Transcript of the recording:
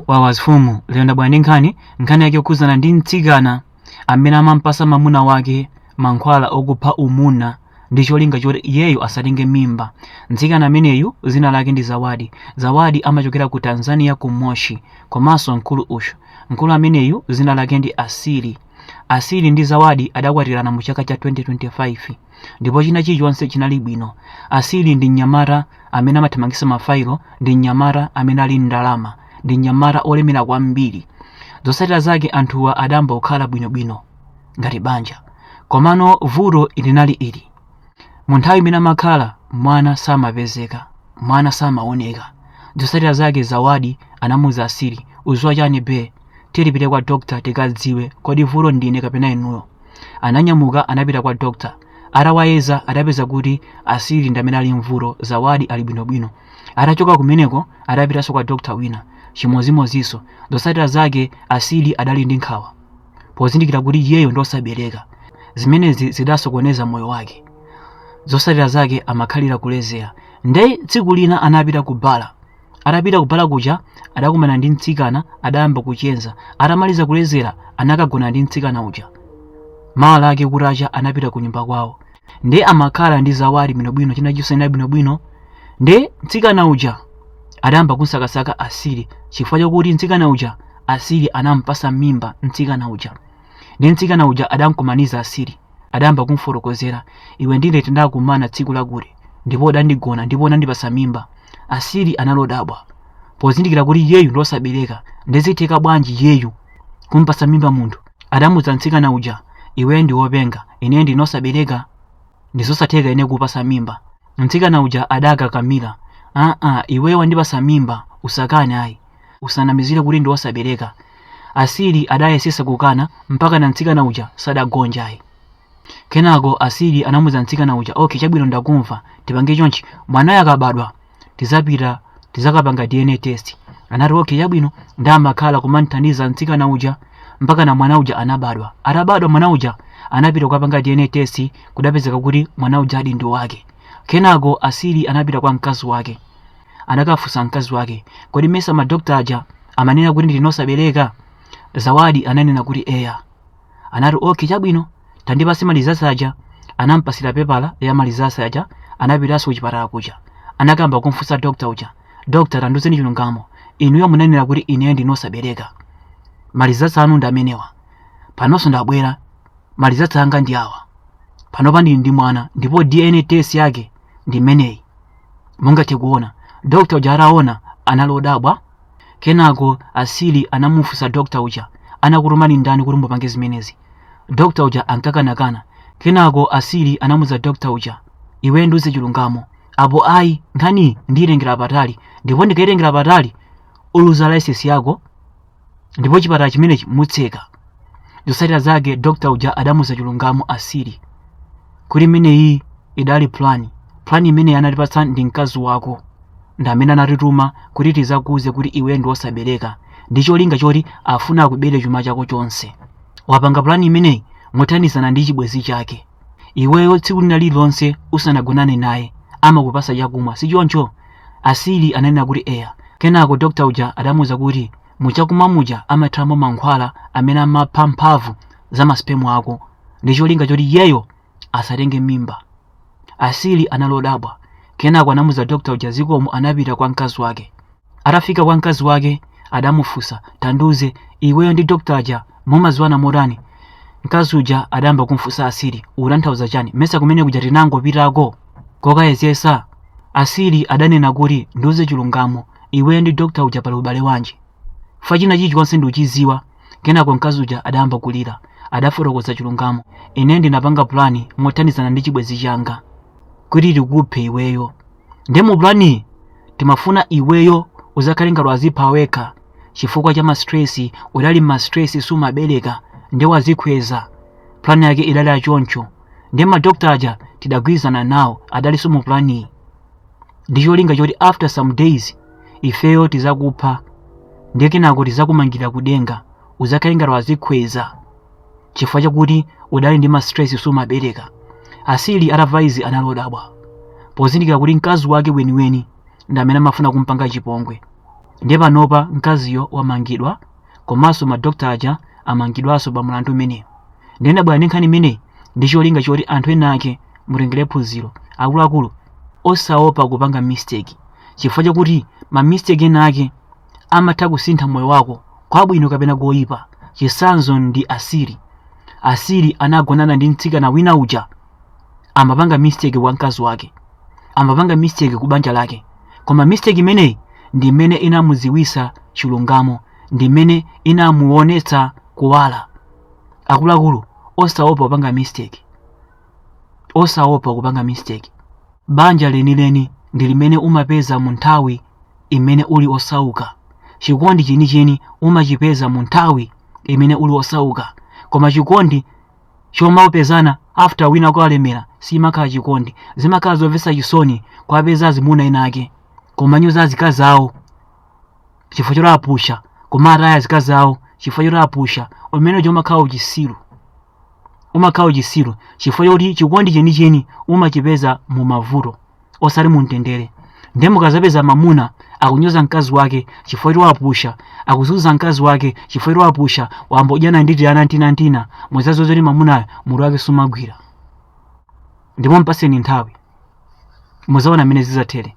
wawa zifumu lero ndabwera ndi nkhani nkhani yake yokhudzana ndi mtsikana amene amampasa mamuna wake mankhwala okupha umuna ndi cholinga choti iyeyo asatenge mimba mtsikana ameneyu zina lake ndi zawadi zawadi amachokera ku tanzania ku moshi komanso mkulu uyu mkulu ameneyu zina lake ndi asili asili ndi zawadi adakwatirana mu chaka cha 2025 ndipo china chilichonse chinali bwino asili ndi mnyamata amene amathamangisa mafailo ndi mnyamata amene ali ndalama ndi mnyamata olemera kwambiri zotsatira zake anthuwa adayamba kukhala bwinobwino ngati banja komano vuto linali ili mu nthawi imene amakhala mwana samapezeka mwana samaoneka zotsatira zake zawadi anamuuza asili udziwa chani be tipite kwa dokta tikadziwe kodi vuto ndine kapena inuyo Ananyamuka anapita kwa doctor atawayeza adapeza kuti Asili ndi amene ali mvuto Zawadi ali bwino bwino. Atachoka kumeneko adapitanso kwa doctor wina chimozimozinso zotsatira zake Asili adali ndi nkhawa pozindikira kuti iyeyo ndi osabereka zimenezi zidasokoneza moyo wake zotsatira zake amakhalira kulezera nde tsiku lina anapita ku bar atapita kubala kuja adakumana ndi mtsikana adayamba kucheza atamaliza kulezera anakagona ndi mtsikana uja mawa lake kutacha anapita ku nyumba kwawo nde amakhala ndi zawadi bwinobwino china chilichonse bwinobwino nde mtsikana uja adayamba kumsakasaka asili chifukwa chakuti mtsikana uja asili anampasa mimba mtsikana uja ndi mtsikana uja adamkumaniza asili adayamba kumfotokozera iwe ndine tindakumana tsiku lakuti ndipo udandigona ndipo unandipasa mimba asili anali odabwa pozindikira kuti iyeyu ndi osabereka nde zitheka bwanji iyeyu kumpasa mimba munthu adamuuza mtsikana uja iwe ndi wopenga ine ndine osabereka ndizosatheka ine kupasa mimba mtsikana uja adakakamira aa iwe wandipasa mimba usakane ayi usanamizire kuti ndiwe osabereka asili adayesesa kukana mpaka na mtsikana uja sadagonje ayi kenako asili anamuuza mtsikana uja ok chabwino ndakumva tipange chonchi mwanayo akabadwa tizapita tizakapanga dna test anati ok chabwino nde amakhala kumamthandiza mtsikana uja mpaka na mwana uja anabadwa atabadwa mwana uja anapita kukapanga dna test kudapezeka kuti mwana uja adi ndi wake kenako asili anapita kwa mkazi wake anakafunsa mkazi wake kodi mesa madokta aja amanena kuti ndine osabereka zawadi ananena kuti eya anati okay chabwino tandipase malizasi aja anampasira pepala ya malizasi aja anapitanso kuchipatala kuja anakayamba kumfunsa dokta uja dokta tandiuzeni chilungamo inuyo munanena kuti ineyo ndine osabereka malizasi anu ndi amenewa panonso ndabwera malizasi anga ndi awa panopa ndili ndi mwana ndipo dna test yake ndi imeneyi mungathe kuona dokta uja ataona anali odabwa kenako asili anamufunsa dokta uja anakutumani ndani kuti mupange zimenezi dokta uja ankakanakana kenako asili anamuza dokta uja iwe ndiuze chilungamo apo ayi nkhaniyi ndiyitengera patali ndipo ndikayitengera patali uluza laisesi yako ndipo chipatala chimenechi mutseka zotsatira zake dokta uja adamuza chilungamo asili kuti imeneyi idali plan plan imeneyi anatipatsa ndi mkazi wako ndi amene anatituma kuti tizakuuze kuti iwe ndi wosabereka ndi cholinga choti afuna akubere chuma chako chonse wapanga plan imeneyi mothandizana ndi chibwenzi chake Iweyo tsiku lina lililonse usanagonane naye amakupasa chakumwa, si choncho? Asili ananena kuti, Eya. Kenako dokta uja adamuuza kuti, Muchakumwa muja amathiramo mankhwala amene amapha mphamvu za ma sperm ako ndi cholinga choti iyeyo asatenge mimba. Asili anali odabwa. Kenako anamuza dokta uja zikomo anapita kwa mkazi wake. Atafika kwa mkazi wake adamufunsa, tandiuze, iweyo ndi dokta aja mumadziwana motani? Mkazi uja adayamba kumfunsa Asili, utanthauza chani? Mesa kumene kuja tinangopitako kokayezesa? Asili adanena kuti, ndiuze chilungamo, iweyo ndi dokta uja pali ubale wanji? Fa china chilichonse ndikuchidziwa. Kenako mkazi uja adayamba kulira. Adafotokoza chilungamo, ine ndinapanga pulani mothandizana ndi chibwenzi changa kuti tikuphe iweyo. nde mu plani timafuna iweyo uzakhale ngati wazipha wekha chifukwa cha mastress udali mastress sumabereka nde wazikhweza plan yake idali achoncho nde madokta aja tidagwirizana nawo adalinso mu planiyi ndi cholinga choti after some days ifeyo tizakupha ndiye kenako tizakumangirira kudenga uzakhale ngati wazikhweza chifukwa chakuti udali ndi mastress sumabereka asili atamva izi anali odabwa pozindikira kuti mkazi wake weniweni ndi amene amafuna kumpanga chipongwe ndiye panopa mkaziyo wamangidwa komanso madokta aja amangidwanso pa mulandu umenewu ndiye ndabwera ndi nkhani imeneyi ndi cholinga choti anthu ena ake mutengere phunziro akuluakulu osaopa kupanga mistake chifukwa chakuti ma mistake ena ake amatha kusintha moyo wako kwabwino kapena koyipa. Chitsanzo ndi Asili. Asili anagonana ndi mtsikana wina uja amapanga mistake kwa mkazi wake, amapanga mistake ku banja lake, koma mistake imeneyi ndi imene inamudziwitsa chilungamo, ndi imene inamuonetsa kuwala. Akuluakulu osaopa kupanga mistake. osaopa kupanga mistake banja lenileni ndi limene umapeza mu nthawi imene uli osauka chikondi chenicheni umachipeza mu nthawi imene uli osauka koma chikondi chomapezana after wina walemera simakhala chikondi zimakhala zomvetsa chisoni kuwapeza azimuna ena ake kumanyoza azikazi awo chifukwa choti apusha kumataya azikazi awo chifukwa choti apusha umene uja umakhala uchisiru umakhala uchisiru chifukwa choti chikondi chenicheni umachipeza mu mavuto osati mu mtendere nde mukazapeza mamuna akunyoza mkazi wake chifukwa choti wapusha akuzunza mkazi wake chifukwa choti wapusha wayamba kudyana ndi tiana tinatina muzaziwe zoti mamunayo mutu wake sumagwira ndipo mpaseni nthawi muzaona mmene zizathere